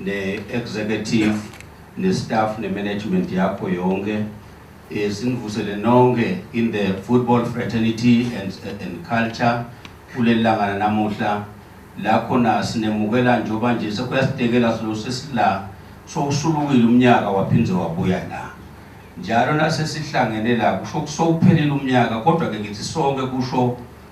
ne-executive ne-staff ne-management yakho yonke eh, sinivusele nonke in the football fraternity and, and culture kuleli langana namuhla la khona sinemukela njengoba nje sekuyasidekela silo sesila sowusulukile umnyaka waphinde wabuya la njalo nasesihlangene la kusho kusowuphelile umnyaka kodwa-ke ngithi sonke kusho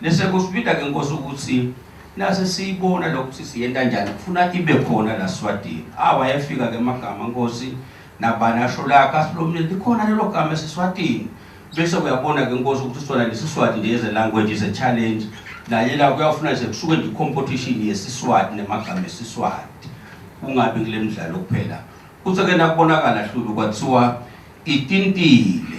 Nese kusibida ke Nkosi ukuthi nase siyibona lokuthi siyenta njani kufuna ibe khona la Swatini. Ah wayefika ke magama Nkosi nabani asho la kasilomile likhona lelo gama esiswatini bese uyabona ke Nkosi ukuthi sona lesiswati nje eze language is a challenge naye la kuyafuna nje kusuke nje competition yesiswati nemagama esiswati kungabi kule mdlalo kuphela kuthi ke nakubonakala hlulu kwathiwa itintile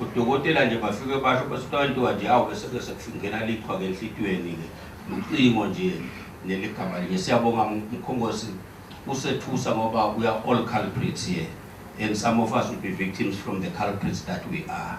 Udokotela nje bafike basho bese kuthiwa into kanje awu bese ke sekufingena lichwa ke enhlitiyweni ke ucingo nje neligama linye siyabonga mkhongosi usethusa ngoba we are all culprits here and some of us will be victims from the culprits that we are